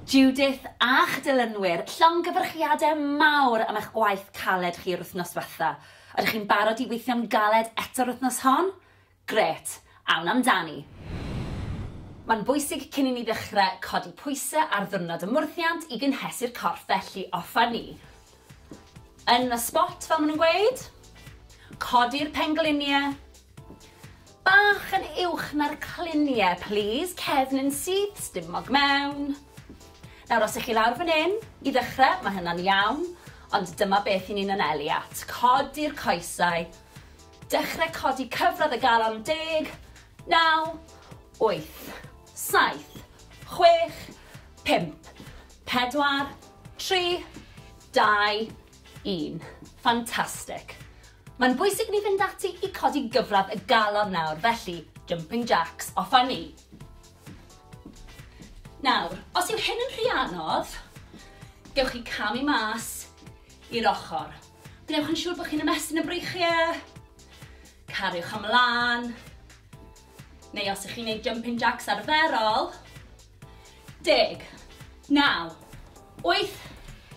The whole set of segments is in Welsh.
Judith a'ch dilynwyr, llongyfarchiadau mawr am eich gwaith caled chi yr wythnos dwetha. Ydych chi'n barod i weithio'n galed eto'r wythnos hon? Grêt! Awn amdani! Mae'n bwysig cyn i ni ddechrau codi pwysau ar ddiwrnod y mwrthiant i gynhesu'r corff felly offer ni yn y sbot fel maen nhw'n gweud. Codi'r pengliniau. Bach yn uwch na'r clunie plîs, cefn yn syth, stumog mewn. Nawr os 'ych chi lawr fan 'yn, i ddechre, ma' hynna'n iawn, ond dyma beth 'yn ni'n anelu at, codi'r coesau, dechre codi cyfradd y galon, deg, naw, wyth, saith, chwech, pump, pedwar, tri, dau, un. Fantastic! Mae'n bwysig ni fynd ati i codi gyfradd y galon nawr, felly, jumping jacks, off â ni! Nawr, os yw hyn yn rhy anodd, gewch chi camu mas i'r ochr. Gwnewch yn siŵr bod chi'n ymestyn y breichiau, cariwch ymlaen, neu os ych chi'n gwneud jumping jacks arferol, Deg. Naw. Wyth.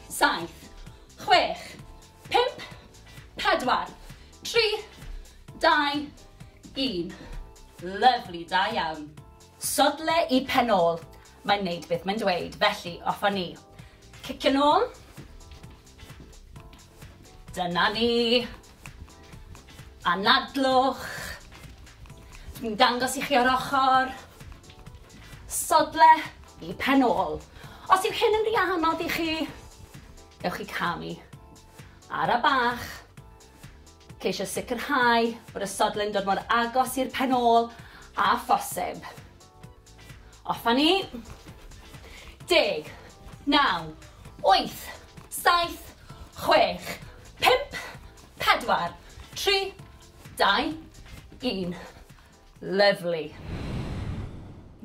Saith. Chwech. Pump. Pedwar. Tri. Dau. Un. Lyfli, da iawn. Sodle i pen ôl. Mae'n neud beth mae'n dweud, felly off a ni. Cicio nôl. Dyna ni. Anadlwch. Dwi'n dangos i chi o'r ochr. Sodle i pen ôl. Os yw hyn yn rhy anodd i chi, gewch chi camu. Ara bach. Ceisio sicrhau bod y sodle'n dod mor agos i'r pen ôl a phosib. Off a ni. Deg. Naw. Wyth. Saith. Chwech. Pump. Pedwar. Tri. Dau. Un. Lyfli.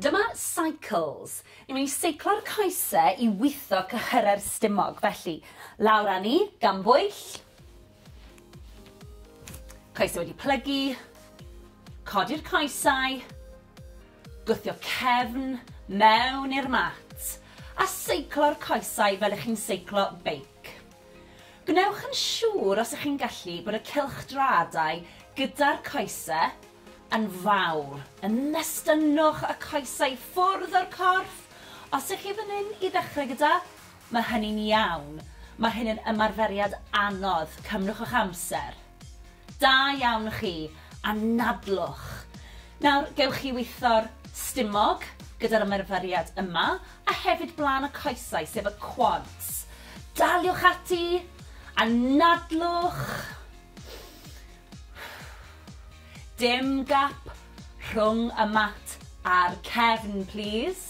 Dyma cycles. Ni'n mynd i seiclo'r coese i witho cyhyrau'r stumog. Felly, lawr â ni, gan bwyll. Coesau wedi plygu, codi'r coesau, gwthio cefn mewn i'r mat a seiclo'r coesau fel ych chi'n seiclo beic. Gwnewch yn siŵr os ych chi'n gallu bod y cylchdraadau gyda'r coesau yn fawr. Ymestynnwch y coesau ffwrdd o'r corff os ych chi fan hyn i ddechrau gyda Mae hynny'n iawn. Mae hyn yn ymarferiad anodd. Cymrwch eich amser. Da iawn chi. Anadlwch. Nawr, gewch chi weithio'r stumog gyda'r ymarferiad yma, a hefyd blaen y coesau, sef y quads. Daliwch ati. Anadlwch. Dim gap rhwng y mat a'r cefn, plîs.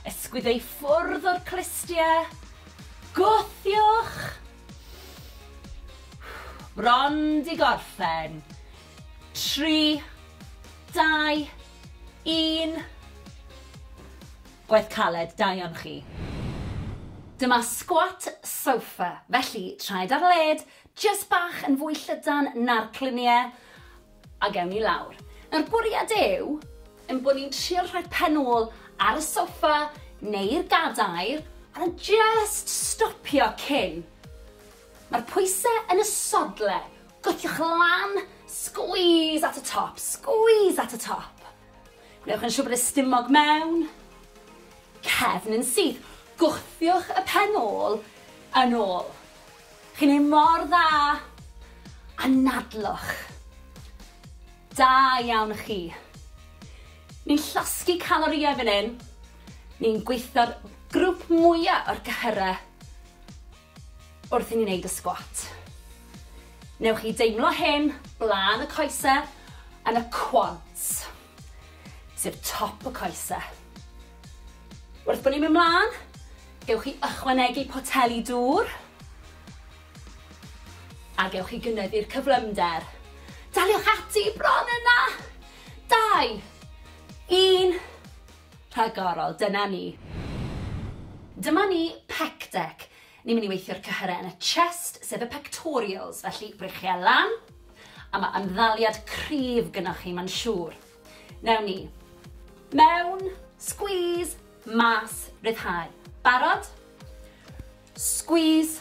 Ysgwyd ei ffwrdd o'r clustiau. Gwthiwch! Bron 'di gorffen. Tri, dau, un. Gwaith caled, da iawn chi. Dyma squat sofa, felly traed ar led, jyst bach yn fwy llydan na'r cluniau. A gewn ni lawr. Nawr bwriad yw ein bod ni'n trio rhoi pen ôl ar y soffa neu'r gadair a just stopio cyn. Mae'r pwysau yn y sodle. Gwthiwch lan, squeeze at y top, squeeze at y top. Gwnewch yn siŵr bod y stumog mewn, cefn yn syth. Gwthiwch y pen ôl yn ôl. Chi'n neud mor dda! Anadlwch! Da iawn chi! Ni'n llosgi calorïau fan hyn, ni'n gweithio'r grwp mwya o'r cyhyrau wrth i ni neud y sgwat. Newch chi deimlo hyn blaen y coese yn y quads. sef top y coese. Wrth bod ni'n mynd mlaen, gewch chi ychwanegu poteli dŵr a gewch chi gynyddu'r cyflymder. Daliwch ati bron yna! Dau, un, rhagorol, dyna ni. Dyma ni pec deck. Ni'n mynd i weithio'r cyhyrau yn y chest, sef y pectorials, felly brechiau lan, a mae ymddaliad cryf gynoch chi, mae'n siŵr. Newn ni. Mewn, squeeze, mas, ryddhau. Barod? Squeeze,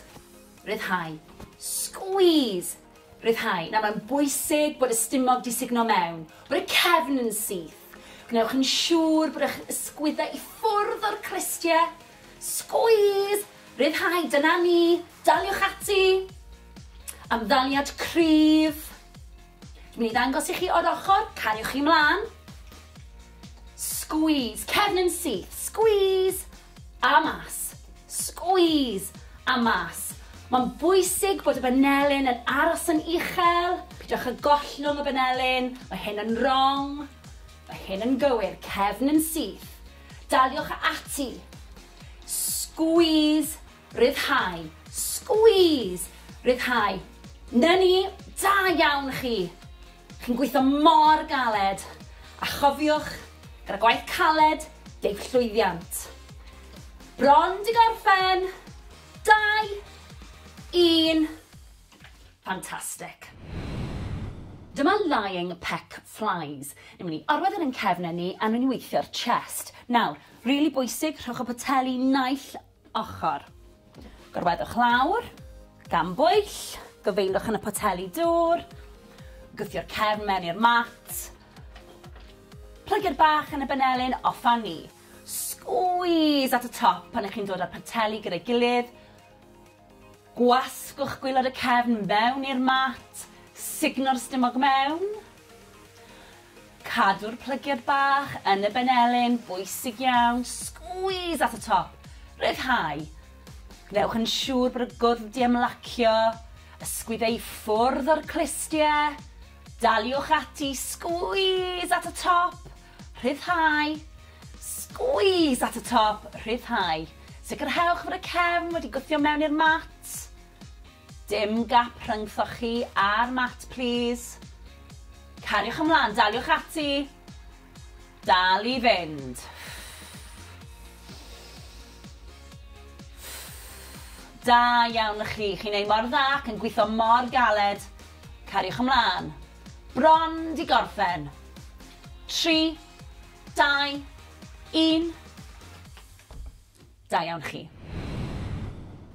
ryddhau. Squeeze, ryddhau. Nawr mae'n bwysig bod y stumog di sugno mewn, bod y cefn yn syth. Gwnewch yn siŵr bod eich ysgwyddau i ffwrdd o'r crystie, Sgwîs! Rhyddhau, dyna ni! Daliwch ati! Ymddaliad cryf. Dwi'n mynd i ddangos i chi o'r ochr, cariwch chi mlaen. Sgwîs, cefn yn syth, sgwîs! A mas, sgwîs! A mas. Mae'n bwysig bod y banelyn yn aros yn uchel, pidwch â gollwng y banelyn, mae hyn yn wrong, mae hyn yn gywir, cefn yn syth, Daliwch ati. Squeeze, ryddhau. Squeeze, ryddhau. Na ni, da iawn chi. Chi'n gweithio mor galed. A chofiwch, gyda gwaith caled, deg llwyddiant. Bron di gorffen. Dau, un, Fantastic. Dyma lying peck flies. Ni'n mynd i orwedd yn ein cefnau ni a ni'n weithio'r chest. Nawr, really bwysig, rhowch y poteli naill ochr. Gorweddwch lawr, gan bwyll, gyfeilwch yn y poteli dŵr, gwthio'r cefn mewn i'r mat, plygu'r bach yn y benelin, off a ni. Squeeze at y top pan ych chi'n dod â'r poteli gyda'i gilydd, Gwasgwch gwaelod y cefn fewn i'r mat, sugno'r stumog mewn. Cadw'r plygiad bach yn y benelin, bwysig iawn, squeeze at y top, rhyddhau. Gwnewch yn siŵr bod y gwddf 'di ymlacio, ysgwyd e i ffwrdd o'r clustie. Daliwch ati, squeeze at y top. Rhyddhau. Squeeze at y top, rhyddhau. Sicrhewch fod y cefn wedi gwthio mewn i'r mat. Dim gap rhyngthoch chi a'r mat plîs. Cariwch ymlaen, daliwch ati. Dal i fynd. Da iawn chi, chi'n ei mor dda ac yn gwitho mor galed. Cariwch ymlaen. Bron 'di gorffen. Tri, dau, un. Da iawn chi.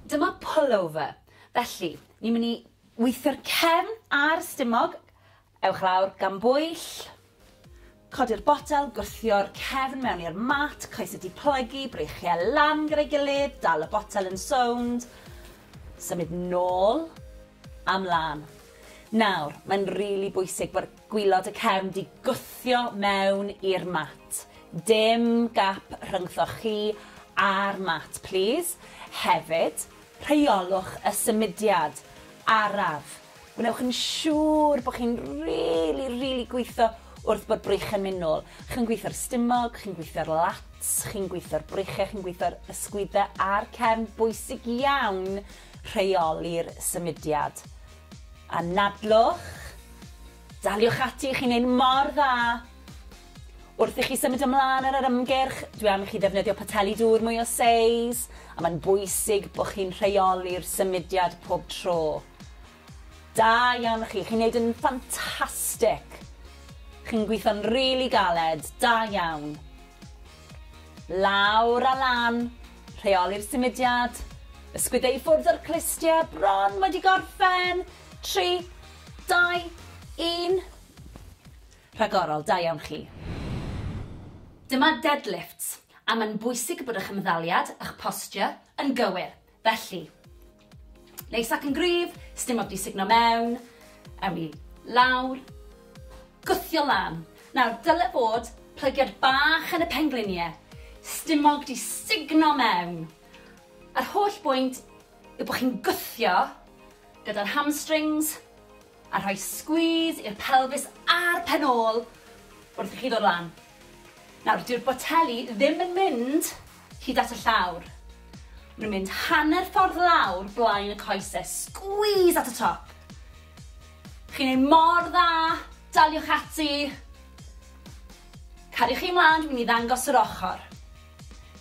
Dyma pullover. Felly, ni'n mynd i weithio'r cefn a'r stumog. Ewch lawr gan bwyll. Codi'r botel, gwthio'r cefn mewn i'r mat, coes y diplygu, breichiau lan gyda'i gilydd, dal y botel yn sownd, symud nôl a mlân. Nawr, mae'n rili bwysig bod gwilod y cefn 'di gwthio mewn i'r mat. Dim gap rhyngthoch chi a'r mat, plîs. Hefyd, rheolwch y symudiad araf Gwnewch yn siŵr bod chi'n rili, rili gweithio wrth bod breichiau'n mynd nôl. Chi'n gweithio'r stumog, chi'n gweithio'r lats, chi'n gweithio'r breichiau, chi'n gweithio'r ysgwyddau a'r cefn. Bwysig iawn rheoli'r symudiad. Anadlwch, daliwch ati, chi'n neud mor dda! Wrth i chi symud ymlaen ar yr ymgyrch, dwi am i chi ddefnyddio poteli dŵr mwy o seis, a mae'n bwysig bod chi'n rheoli'r symudiad pob tro. Da iawn chi, chi'n neud yn ffantastic! Chi'n gweithio'n rili galed, da iawn! Lawr a lan, rheoli'r symudiad, ysgwydde i ffwrdd o'r clustiau, bron wedi gorffen, tri, dau, un. Rhagorol, da iawn chi. Dyma deadlifts, a mae'n bwysig bod eich ymddaliad, eich posture, yn gywir, felly. Neis ac yn gryf, sdim ots i sugno mewn, ewn ni lawr, gwthio lan. Nawr, dyle bod plygiad bach yn y pengliniau, stumog di sugno mewn. Yr holl bwynt yw bod chi'n gwthio gyda'r hamstrings, A rhoi squeeze i'r pelfis a'r pen ôl wrth i chi ddod lan. Nawr, dyw'r boteli ddim yn mynd hyd at y llawr. Maen nhw'n mynd hanner ffordd lawr blaen y coese. Squeeze at y top. Chi'n ei mor dda, daliwch ati. Cariwch chi mlaen, dwi'n mynd i ddangos yr ochr.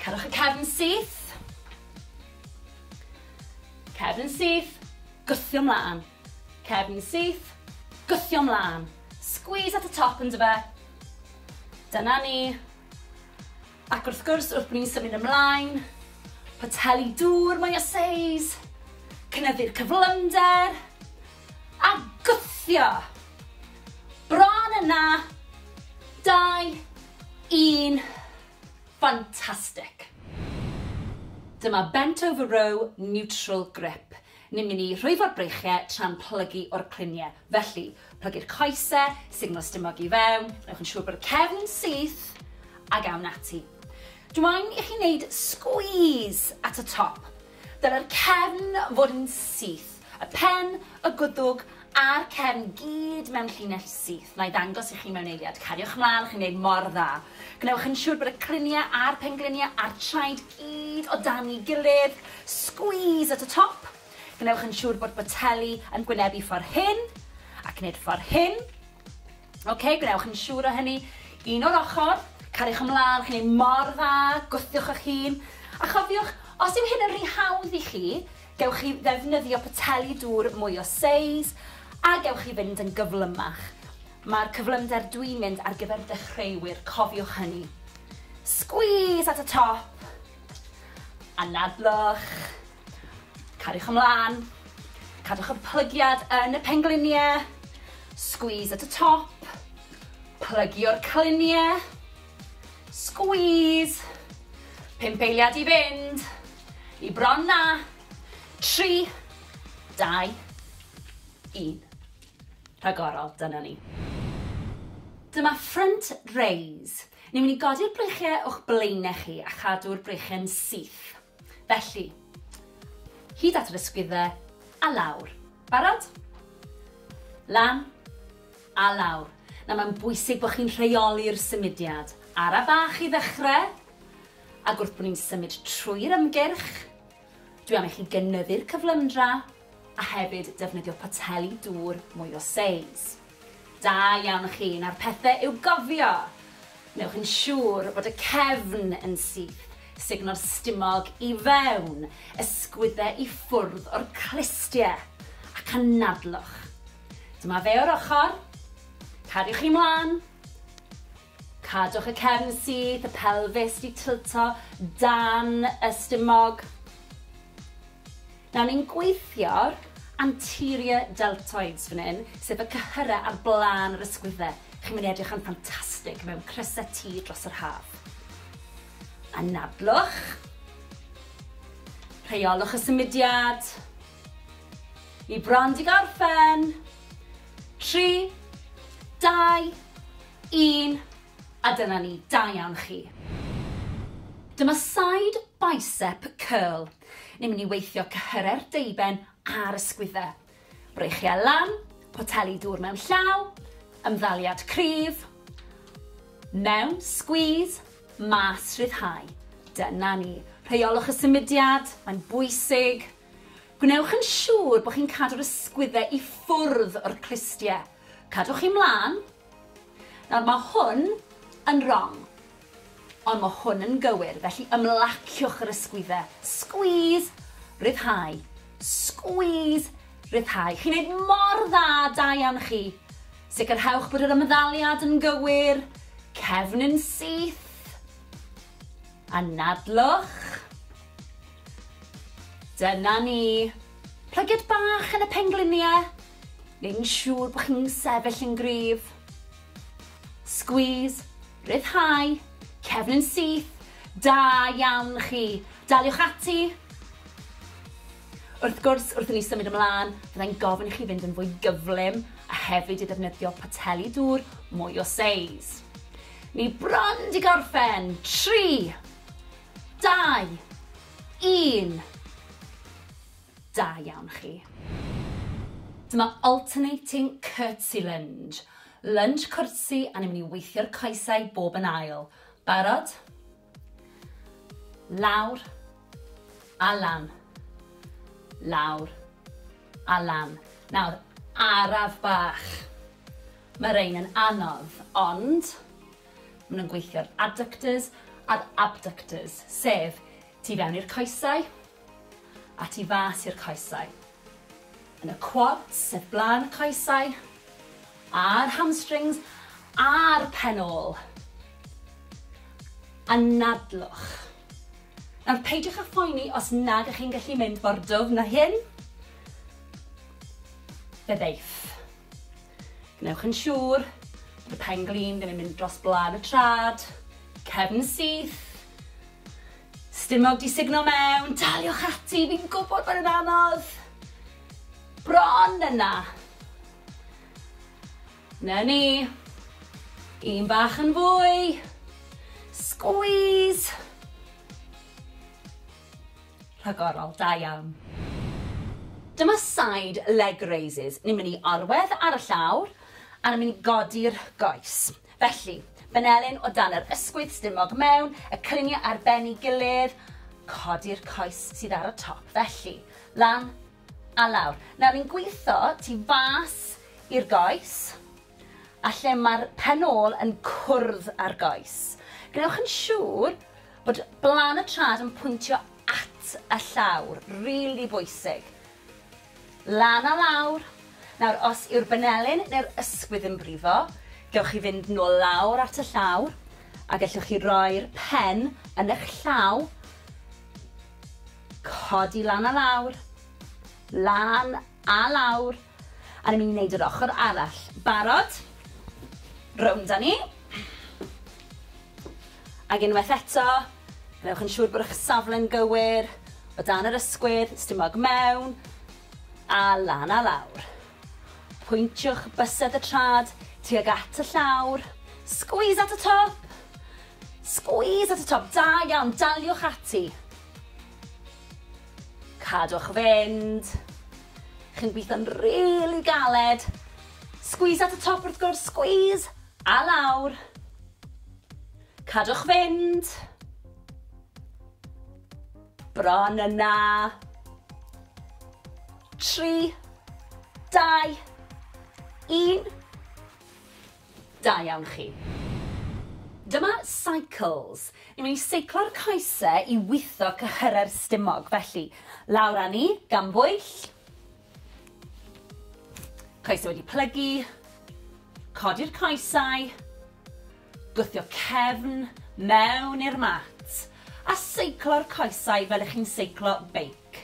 Cerwch y cefn syth. Cefn syth, gwthio mlaen. Cefn syth, gwthio mlân. Squeeze at y top yndyfe? Dyna ni. Ac wrth gwrs, wrth bod ni'n symud ymlaen, poteli dŵr mwy o seis, cynyddu'r cyflymder, a gwthio! Bron yna! 2, 1, fantastic! Dyma bent over row neutral grip. Ni'n mynd i rhwyfo'r breichiau tra'n plygu o'r cluniau. Felly, plygu'r coesau, sugno'r stumog i fewn, gwnewch yn siŵr bod y cefn yn syth, ac awn ati. Dw i'n i chi wneud sgwîs at y top. Dylai'r cefn fod yn syth, y pen, y gwddwg A'r cefn gyd mewn llinell syth, na'i ddangos i chi mewn eiliad. Cariwch mlaen, chi'n gwneud mor dda. Gwnewch yn siŵr bod y cryniau a'r pengliniau a'r traed gyd o dan'i gilydd. Squeeze at y top. Gwnewch yn siŵr bod boteli yn gwynebu ffordd hyn, ac nid ffordd hyn. OK, gwnewch yn siŵr o hynny. Un o'r ochr, cariwch ymlaen, chi'n gwneud mor dda, gwthiwch eich hun. A chofiwch, os yw hyn yn rhy hawdd i chi, Gewch chi ddefnyddio poteli dŵr mwy o seis a gewch chi fynd yn gyflymach. Mae'r cyflymder dwi'n mynd ar gyfer dechreuwyr, cofiwch hynny. Squeeze at y top. Anadlwch. Cariwch ymlaen. Cadwch y plygiad yn y pengliniau. Squeeze at y top. Plygio'r cliniau. Squeeze. Pump eiliad i fynd. I bron na. 3, 2, 1. Rhagorol, dyna ni. Dyma front raise. Ni'n mynd i godi'r breichiau o'ch blaenau chi a chadw'r breichiau'n syth. Felly, hyd at yr ysgwyddau a lawr. Barod? Lan a lawr. Na, mae'n bwysig bod chi'n rheoli'r symudiad. Ara bach i ddechrau. Ac wrth bod ni'n symud trwy'r ymgyrch, dwi am i chi gynyddu'r cyflymdra a hefyd defnyddio poteli dŵr mwy o seis. Da iawn chi, nawr pethe i'w gofio! Newch yn siŵr bod y cefn yn syth, sugno'r stumog i fewn, ysgwydde i ffwrdd o'r clustie, ac anadlwch. Dyma fe o'r ochr, cariwch chi mlan! Cadwch y cefn syth, y pelfis 'di tilto dan y stumog. Nawr ni'n gweithio'r anterior deltoids fan hyn, sef y cyhyrau ar blaen yr ysgwydde. Chi'n mynd i edrych yn ffantastig mewn crysau T dros yr haf. Anadlwch. Rheolwch y symudiad. Ni bron 'di gorffen. Tri, dau, Un, a dyna ni, da iawn chi. Dyma side bicep curl. Ni'n mynd i weithio cyhyre'r deuben a'r ysgwydde. Breichiau lan, poteli dŵr mewn llaw, ymddaliad cryf, mewn, squeeze, mas, rhyddhau. Dyna ni. Rheiolwch y symudiad, mae'n bwysig. Gwnewch yn siŵr bod chi'n cadw'r ysgwydde i ffwrdd o'r clustiau. Cadwch chi mlaen, Nawr, mae hwn yn rong, ond mae hwn yn gywir, felly ymlaciwch yr ysgwyddau. Squeeze, rhyddhau, squeeze, rhyddhau. Chi'n neud mor dda, da iawn chi. Sicrhewch bod yr ymddaliad yn gywir, cefn yn syth. Anadlwch. Dyna ni. Plygiad bach yn y pengliniau. neu'n siŵr bod chi'n sefyll yn gryf. Squeeze, rhyddhau, cefn yn syth, da iawn chi. Daliwch ati. Wrth gwrs, wrth i ni symud ymlaen, fyddai'n gofyn i chi fynd yn fwy gyflym a hefyd i ddefnyddio poteli dŵr mwy o seis. Ni bron di gorffen. 3, 2, 1. Da iawn chi. Dyma alternating curtsy lunge. Lunge cwrtsi a ni'n mynd i weithio'r coesau bob yn ail. Barod? Lawr a lan. Lawr a lan. Nawr, araf bach. Mae rhain yn anodd, ond maen nhw'n gweithio'r adductors a'r abductors, sef tu fewn i'r coesau a tu fas i'r coesau. Yn y quads o flaen y coesau, a'r hamstrings a'r pen ôl. Anadlwch. Nawr peidiwch â phoeni os nad ych chi'n gallu mynd mor dwfn na hyn. Fe ddeiff. Gwnewch yn siŵr bod y pen glin ddim yn mynd dros blaen y trad, cefn syth, Stumog 'di sugno mewn! Daliwch ati, fi'n gwybod bod e'n anodd! Bron yna! Na ni! Un bach yn fwy! Squeeze! Rhagorol, da iawn. Dyma side leg raises. Ni'n mynd i arwedd ar y llawr, a ni'n mynd i godi'r goes. Felly, Benelin o dan yr ysgwydd stumog mewn, y clyniau ar ben i gilydd, codi'r coes sydd ar y top, felly, lan a lawr. Nawr ni'n gwitho tu fas i'r goes, a lle mae'r pen ôl yn cwrdd â'r goes. Gwnewch yn siŵr bod blan y trad yn pwyntio at y llawr, rili bwysig. Lan a lawr! Nawr os yw'r banelin neu'r ysgwydd yn brifo, gewch chi fynd nôl lawr at y llawr, a gellwch chi roi'r pen yn eich llaw, codi lan a lawr, lan a lawr, a ni'n mynd i wneud yr ochr arall. Barod? Rownd â ni. Ac unwaith eto, gwnewch yn siŵr bod eich safle'n gywir, o dan yr ysgwydd, stumog mewn a lan a lawr. Pwyntiwch bysedd y trad tuag at y llawr, squeeze at y top! Squeeze at y top, da iawn, daliwch ati. Cadwch fynd. Chi'n gweithio'n rili galed. Squeeze at y top wrth gwrs, squeeze! A lawr. Cadwch fynd. Bron yna. Tri. Dau. Un. Da iawn chi. Dyma cycles. Ni'n mynd i seiclo'r coesau i witho cyhyrau'r stumog. Felly, lawr â ni, gan bwyll. Coesau wedi plygu, codi'r coesau, gwthio cefn mewn i'r mat a seiclo'r coesau fel ych chi'n seiclo beic.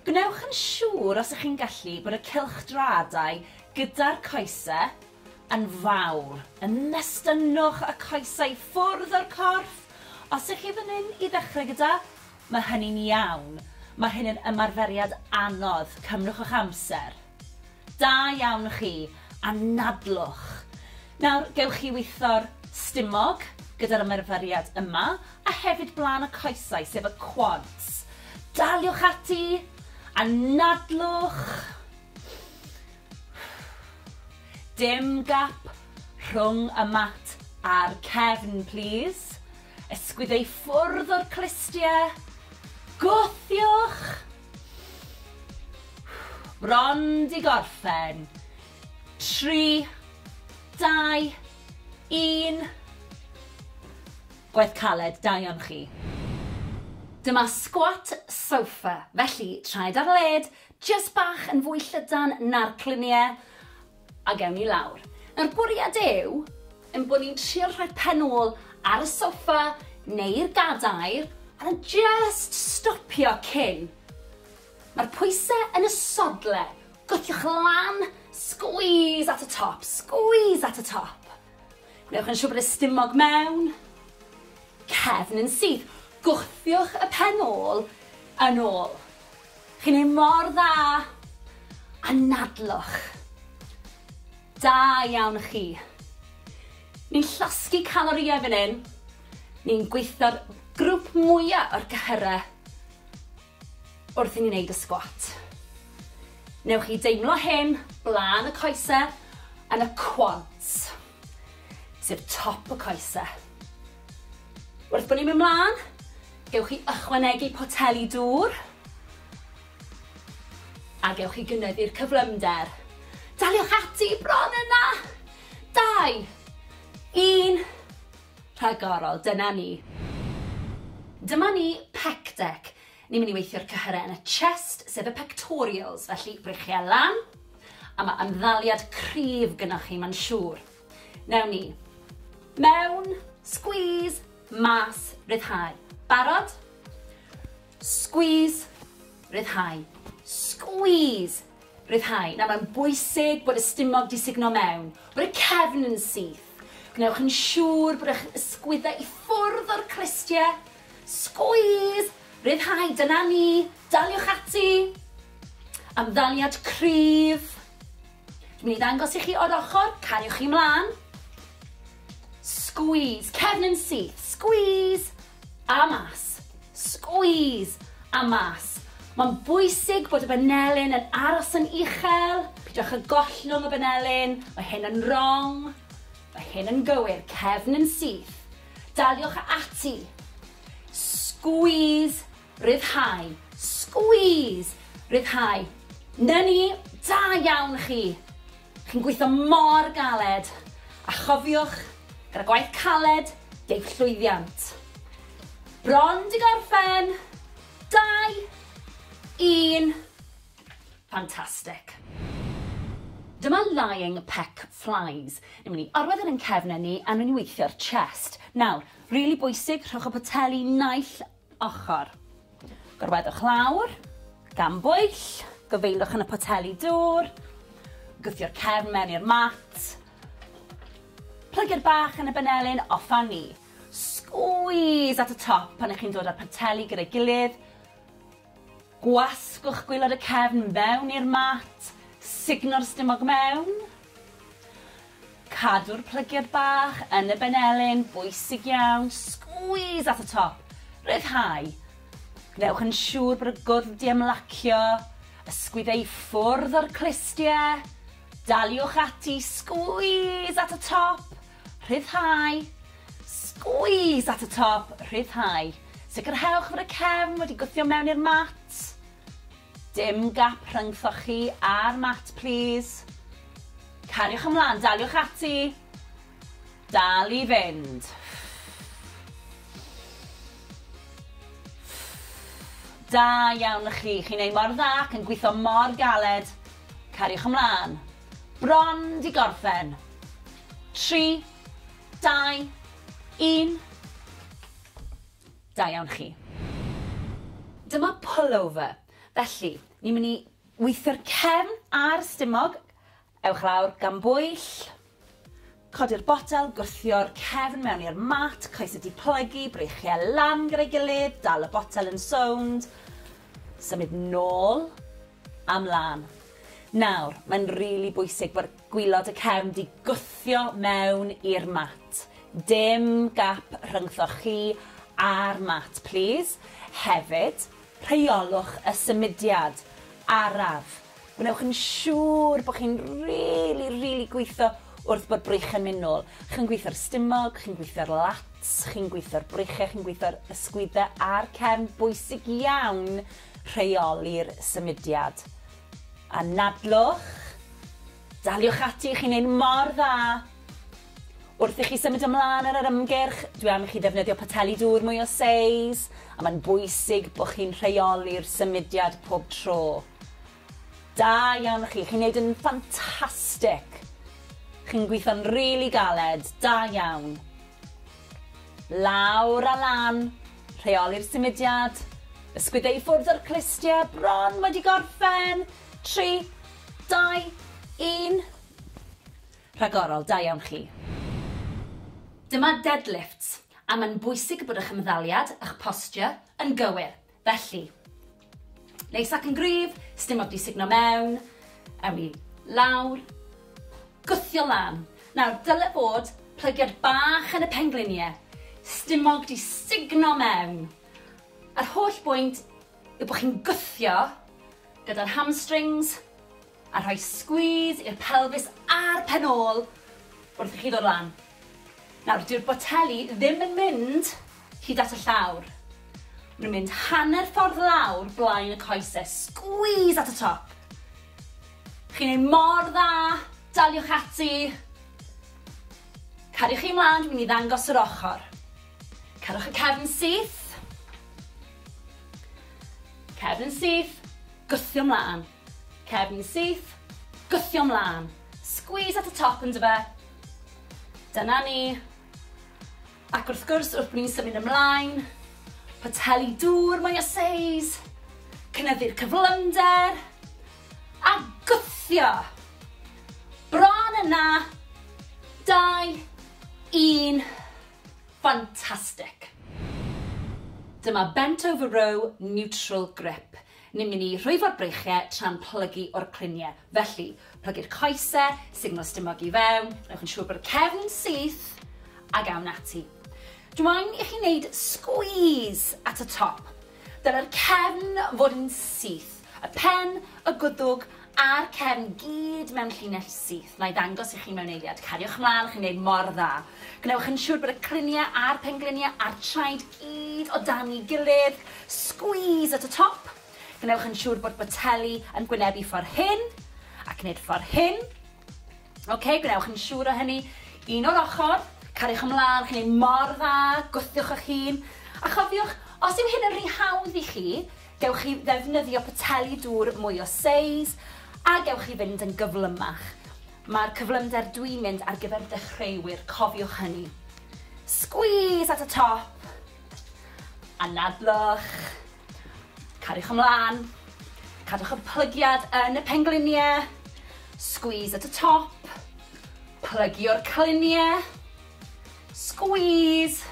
Gwnewch yn siŵr os ych chi'n gallu bod y cylchdraadau gyda'r coesau yn fawr. Ymestynnwch y coesau ffwrdd o'r corff os ych chi fan hyn i ddechrau gyda Mae hynny'n iawn. Mae hyn yn ymarferiad anodd. Cymrwch eich amser. Da iawn chi. Anadlwch. Nawr, gewch chi weithio'r stumog gyda'r ymarferiad yma, a hefyd blaen y coesau, sef y quads. Daliwch ati. Anadlwch. Dim gap rhwng y mat a'r cefn, plîs. Ysgwyd ei ffwrdd o'r clustiau. Gwthiwch! Bron di gorffen. Tri, dau, un. Gwaith caled, da iawn chi. Dyma squat sofa, felly traed ar led, jyst bach yn fwy llydan na'r cluniau. A gewn ni lawr. Nawr bwriad yw ein bod ni'n trio rhoi pen ôl ar y soffa neu'r gadair a just stopio cyn. Mae'r pwysau yn y sodle. Gwthiwch lan, squeeze at y top, squeeze at y top. Gwnewch yn siŵr bod y stumog mewn, cefn yn syth. Gwthiwch y pen ôl yn ôl. Chi'n neud mor dda! Anadlwch! Da iawn chi! Ni'n llosgi calorïau fan hyn, ni'n gweithio'r grwp mwya o'r cyhyrau wrth i ni neud y sgwat. Newch chi deimlo hyn blaen y coesau yn y quads. sef top y coese. Wrth bod ni'n mynd mlaen, gewch chi ychwanegu poteli dŵr a gewch chi gynyddu'r cyflymder. Daliwch ati bron yna! Dau, un, rhagorol, dyna ni. Dyma ni pec deck, Ni'n mynd i weithio'r cyhyrau yn y chest, sef y pectorials, felly brechiau lan, a mae ymddaliad cryf gynnwch chi, mae'n siŵr. Newn ni. Mewn, squeeze, mas, ryddhau. Barod? Squeeze, ryddhau. Squeeze, ryddhau. Nawr mae'n bwysig bod y stumog di signo mewn, bod y cefn yn syth. Gwnewch yn siŵr bod eich ysgwyddau i ffwrdd o'r crystie, Sgwîs! Rhyddhau, dyna ni! Daliwch ati! Ymddaliad cryf. Dwi'n mynd i ddangos i chi o'r ochr, cariwch chi mlaen. Sgwîs, cefn yn syth, sgwîs! A mas, sgwîs! A mas. Mae'n bwysig bod y banelyn yn aros yn uchel, pidwch â gollwng y banelyn, mae hyn yn wrong, mae hyn yn gywir, cefn yn syth, Daliwch ati. Squeeze, ryddhau. Squeeze, ryddhau. Na ni, da iawn chi. Chi'n gweithio mor galed. A chofiwch, gyda gwaith caled, deg llwyddiant. Bron di gorffen. Dau, un, Fantastic. Dyma lying peck flies. Ni'n mynd i orwedd yn ein cefnau ni a ni'n weithio'r chest. Nawr, really bwysig, rhowch y poteli naill ochr. Gorweddwch lawr, gan bwyll, gyfeilwch yn y poteli dŵr, gwthio'r cefn mewn i'r mat, plygu'r bach yn y benelin, off a ni. Squeeze at y top pan ych chi'n dod â'r poteli gyda'i gilydd, Gwasgwch gwaelod y cefn fewn i'r mat, sugno'r stumog mewn. Cadw'r plygiad bach yn y benelin, bwysig iawn, squeeze at y top, rhyddhau. Gwnewch yn siŵr bod y gwddf 'di ymlacio, ysgwyd e i ffwrdd o'r clustie. Daliwch ati, squeeze at y top. Rhyddhau. Squeeze at y top, rhyddhau. Sicrhewch fod y cefn wedi gwthio mewn i'r mat. Dim gap rhyngthoch chi a'r mat plîs. Cariwch ymlaen, daliwch ati. Dal i fynd. Da iawn chi, chi'n ei mor dda ac yn gwitho mor galed. Cariwch ymlaen. Bron 'di gorffen. Tri, dau, un. Da iawn chi. Dyma pullover. Felly, ni'n mynd i weithio'r cefn a'r stumog. Ewch lawr gan bwyll. Codi'r botel, gwthio'r cefn mewn i'r mat, coes y diplygu, breichiau lan gyda'i gilydd, dal y botel yn sownd, symud nôl a mlan. Nawr, mae'n rili bwysig bod gwilod y cefn 'di gwthio mewn i'r mat. Dim gap rhyngthoch chi a'r mat, plîs. Hefyd, rheolwch y symudiad araf Gwnewch yn siŵr bod chi'n rili, rili gweithio wrth bod breichiau'n mynd nôl. Chi'n gweithio'r stumog, chi'n gweithio'r lats, chi'n gweithio'r breichiau, chi'n gweithio'r ysgwyddau a'r cefn. Bwysig iawn rheoli'r symudiad. Anadlwch, daliwch ati, chi'n neud mor dda! Wrth i chi symud ymlaen ar yr ymgyrch, dwi am i chi ddefnyddio poteli dŵr mwy o seis, a mae'n bwysig bod chi'n rheoli'r symudiad pob tro. Da iawn chi, chi'n neud yn ffantastic! Chi'n gweithio'n rili galed, da iawn! Lawr a lan, rheoli'r symudiad, ysgwydde i ffwrdd o'r clustie, bron wedi gorffen, tri, dau, un. Rhagorol, da iawn chi. Dyma deadlifts, a mae'n bwysig bod eich ymddaliad, eich posture, yn gywir, felly. Neis ac yn gryf, sdim ots i sugno mewn, ewn ni lawr, gwthio lan. Nawr, dyle bod plygiad bach yn y penglinie, stumog di sugno mewn. A'r holl bwynt yw bod chi'n gwthio gyda'r hamstrings, A rhoi squeeze i'r pelfis a'r pen ôl wrth i chi ddod lan. Nawr, dyw'r boteli ddim yn mynd hyd at y llawr. Maen nhw'n mynd hanner ffordd lawr blaen y coese. Squeeze at y top. Chi'n ei mor dda, daliwch ati. Cariwch chi mlaen, dwi'n mynd i ddangos yr ochr. Cerwch y cefn syth. Cefn syth, gwthio mlaen. Cefn syth, gwthio mlân. Squeeze at y top yndyfe? Dyna ni. Ac wrth gwrs, wrth bod ni'n symud ymlaen, poteli dŵr mwy o seis, cynyddu'r cyflymder, a gwthio! Bron yna! 2, 1, fantastic! Dyma bent over row neutral grip. Ni'n mynd i rhwyfo'r breichiau tra'n plygu o'r cluniau. Felly, plygu'r coesau, sugno stumog i fewn, gwnewch yn siŵr bod y cefn yn syth, ac awn ati. Dw i'n i chi wneud sgwîs at y top. Dylai'r cefn fod yn syth, y pen, y gwddwg A'r cefn gyd mewn llinell syth, na'i ddangos i chi mewn eiliad. Cariwch mlaen, chi'n gwneud mor dda. Gwnewch yn siwr bod y cliniau a'r pengliniau a'r traed gyd o dan'i gilydd. Squeeze at y top. Gwnewch yn siwr bod boteli yn gwynebu ffordd hyn, ac nid ffordd hyn. OK, gwnewch yn siwr o hynny. Un o'r ochr, cariwch ymlaen, chi'n gwneud mor dda, gwthiwch eich hun. A chofiwch, os yw hyn yn rhy hawdd i chi, Gewch chi ddefnyddio poteli dŵr mwy o seis a gewch chi fynd yn gyflymach. Mae'r cyflymder dwi'n mynd ar gyfer dechreuwyr, cofiwch hynny. Squeeze at y top. Anadlwch. Cariwch ymlaen. Cadwch y plygiad yn y pengliniau. Squeeze at y top. Plygio'r cliniau. Squeeze.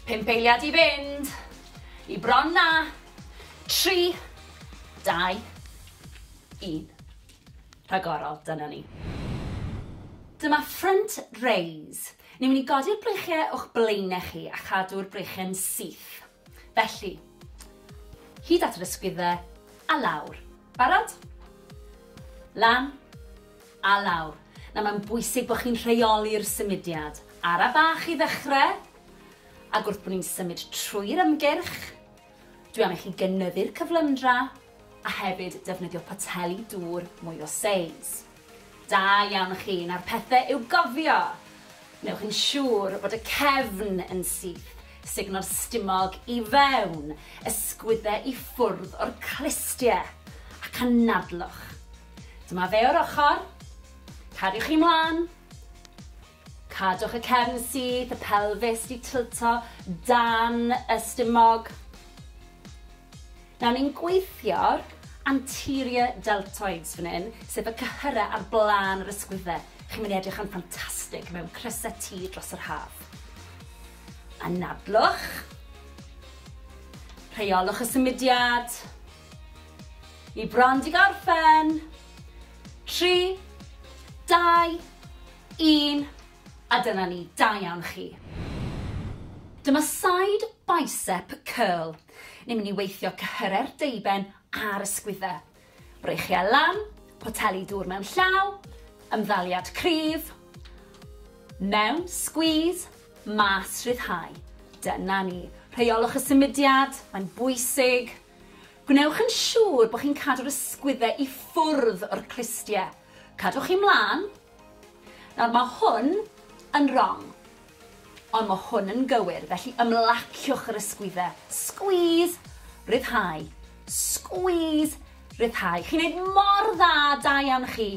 Pimp eiliad i fynd. I bron na. 3, 2, 1. Rhagorol, dyna ni. Dyma front raise. Ni'n mynd i godi'r breichiau o'ch blaenau chi a chadw'r breichiau'n syth. Felly, hyd at yr ysgwyddau a lawr. Barod? Lan a lawr. Na, mae'n bwysig bod chi'n rheoli'r symudiad. Ara bach i ddechrau. Ac wrth bod ni'n symud trwy'r ymgyrch, dwi am i chi gynyddu'r cyflymdra a hefyd defnyddio poteli dŵr mwy o seis. Da iawn chi, nawr pethe i'w gofio! Wnewch yn siŵr bod y cefn yn syth, sugno'r stumog i fewn, ysgwydde i ffwrdd o'r clustie, ac anadlwch. Dyma fe o'r ochr, cariwch chi mlan! Cadwch y cefn syth, y pelfis 'di tilto dan y stumog. Nawr ni'n gweithio'r anterior deltoids fan hyn, sef y cyhyrau ar blaen yr ysgwydde. Chi'n mynd i edrych yn ffantastig mewn crysau T dros yr haf. Anadlwch. Rheolwch y symudiad. Ni bron 'di gorffen. Tri, dau, Un, a dyna ni, da iawn chi. Dyma side bicep curl. Ni'n mynd i weithio cyhyre'r deuben a'r ysgwydde. Breichiau lan, poteli dŵr mewn llaw, ymddaliad cryf, mewn, squeeze, mas, rhyddhau. Dyna ni. Rheolwch y symudiad, mae'n bwysig. Gwnewch yn siŵr bod chi'n cadw'r ysgwydde i ffwrdd o'r clustiau. Cadwch chi mlaen, Nawr mae hwn yn rong, ond mae hwn yn gywir, felly ymlaciwch yr ysgwyddau. Squeeze, rhyddhau, squeeze, rhyddhau. Chi'n neud mor dda, da iawn chi.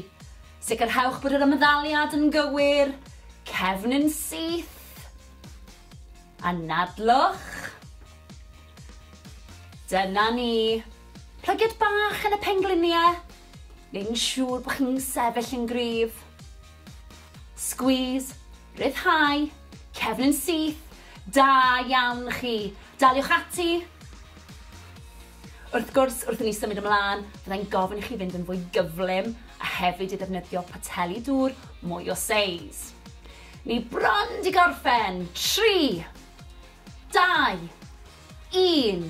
Sicrhewch bod yr ymddaliad yn gywir, cefn yn syth. Anadlwch. Dyna ni. Plygiad bach yn y pengliniau. neu'n siŵr bod chi'n sefyll yn gryf. Squeeze, rhyddhau, cefn yn syth, da iawn chi. Daliwch ati. Wrth gwrs, wrth i ni symud ymlaen, byddai'n gofyn i chi fynd yn fwy gyflym a hefyd i ddefnyddio poteli dŵr mwy o seis. Ni bron di gorffen. 3, 2, 1.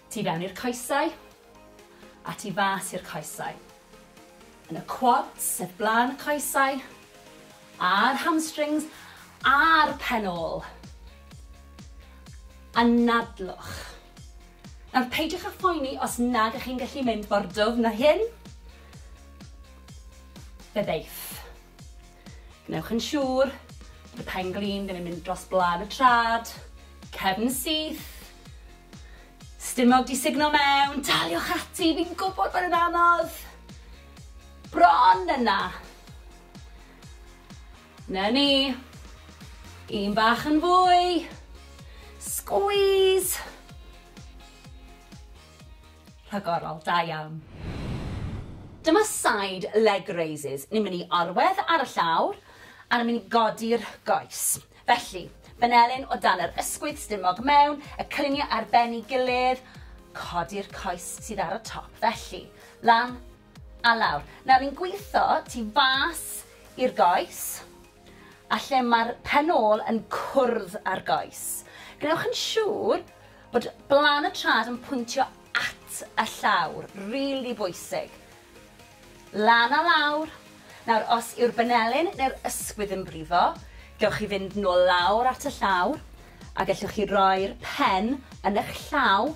Tu fewn i'r coesau, a tu fas i'r coesau. Yn y quads, sef blaen y coesau, a'r hamstrings, a'r pen ôl. Anadlwch. Nawr, peidiwch â phoeni os nad ych chi'n gallu mynd mor dwfn â hyn. Fe ddeith. Gwnewch yn siŵr bod y pen glin ddim yn mynd dros blân y trad, cefn syth, stumog di sugno mewn, daliwch ati, fi'n gwybod bod yn anodd, bron yna. Na ni, un bach yn fwy, squeeze, Rhagorol, da iawn. Dyma side leg raises, ni'n mynd i orwedd ar y llawr a ni'n mynd i godi'r goes. Felly, fanelyn o dan yr ysgwydd stumog mewn, y cliniau ar ben ei gilydd, codi'r coes sydd ar y top. Felly, lan a lawr. Nawr ni'n gwitho tu fas i'r goes, a lle mae'r pen ôl yn cwrdd â'r goes. Gwnewch yn siŵr bod blaen y trad yn pwyntio at y llawr, rili really bwysig. Lan a lawr. Nawr, os yw'r benelin neu'r ysgwydd yn brifo, gewch chi fynd nôl lawr at y llawr, a gellwch chi roi'r pen yn eich llaw,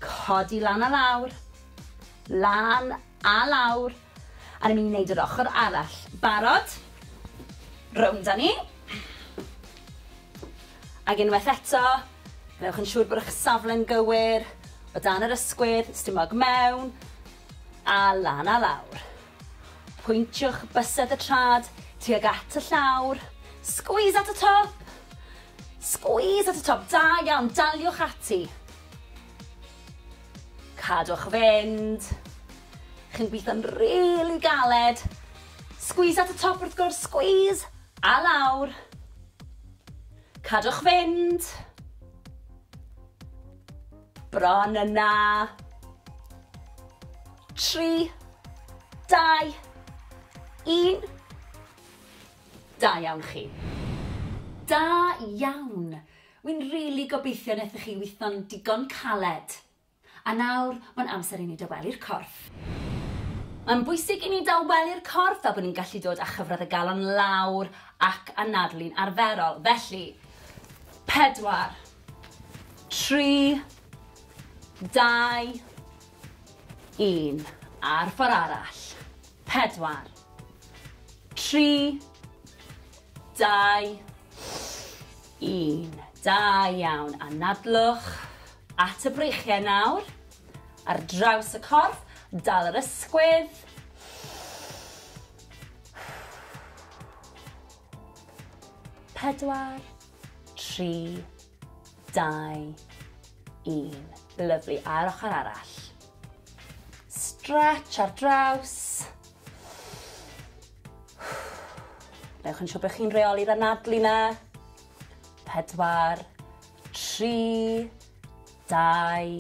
codi lan a lawr, lan a lawr, A ni'n mynd i wneud yr ochr arall. Barod? Rownd â ni. Ac unwaith eto, gwnewch yn siŵr bod eich safle'n gywir, o dan yr ysgwydd, stumog mewn, a lan a lawr. Pwyntiwch bysedd y trad tuag at y llawr. Squeeze at y top! Squeeze at y top, da iawn, daliwch ati. Cadwch fynd. Chi'n gweithio'n rili galed. Squeeze at y top wrth gwrs, squeeze! A lawr. Cadwch fynd. Bron yna. Tri, dau, un. Da iawn chi. Da iawn. Wi'n rili gobeithio nethoch chi wythno'n digon caled. A nawr, mae'n amser i ni dawelu'r corff. Mae'n bwysig i ni dawelu'r corff fel bod ni'n gallu dod â chyfradd y galon lawr ac anadlu'n arferol. Felly, pedwar, tri, dau, un, a'r ffor arall. Pedwar, tri, Dau, un. Da iawn. Anadlwch at y breichiau nawr. Ar draws y corff, dal yr ysgwydd. Pedwar, tri, dau, un. Lyflu. A'r ochr arall. Stretch ar draws. Newch yn siŵr bod chi'n reoli'r anadlu na. Pedwar, tri, dau,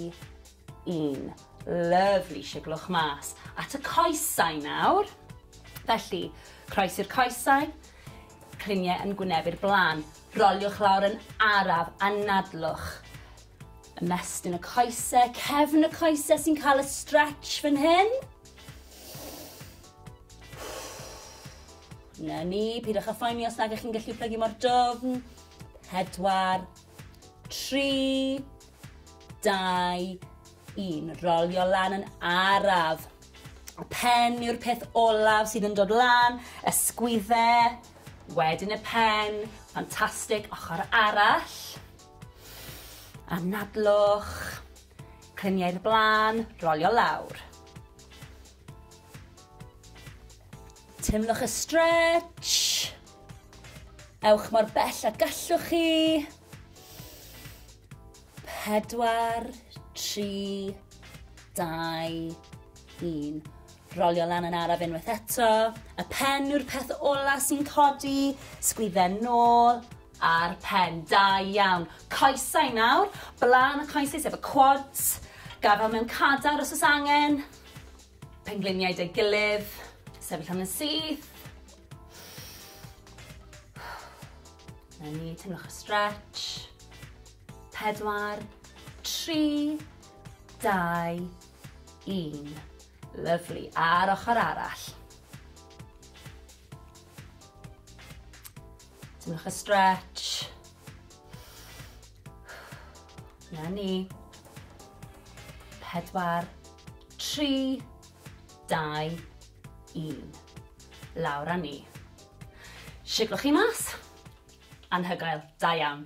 un. Lyfli, siglwch mas. At y coesau nawr. Felly, croes i'r coesau, cliniau yn gwynebu'r blaen. Roliwch lawr yn araf, anadlwch. Ymestyn y coesau, cefn y coesau sy'n cael y stretch fan hyn. Na ni, pidwch â phoeni os nag ych chi'n gallu plygu mor dofn. Pedwar, tri, dau, un. Rolio lan yn araf. Y pen yw'r peth olaf sydd yn dod lan, ysgwydde, wedyn y pen, ffantastig, ochr arall. Anadlwch, cliniau'r blaen, rolio lawr. Teimlwch y stretch. Ewch mor bell a gallwch chi. Pedwar, tri, dau, un. Rolio lan yn araf unwaith eto. Y pen yw'r peth ola sy'n codi. Sgwydden nôl a'r pen. Da iawn. Coesau nawr. Blaen y coesau sef y quads. Gafel mewn cadar os oes angen. Pengliniau 'da'i gilydd. Sefyll am yn syth. 'Na ni, teimlwch y stretch. Pedwar, tri, dau, un. Lyfli. A'r ochr arall. Teimlwch y stretch. Na ni. Pedwar, tri, dau, un. Lawr a ni. Siglwch chi mas. Anhygoel. Da iawn.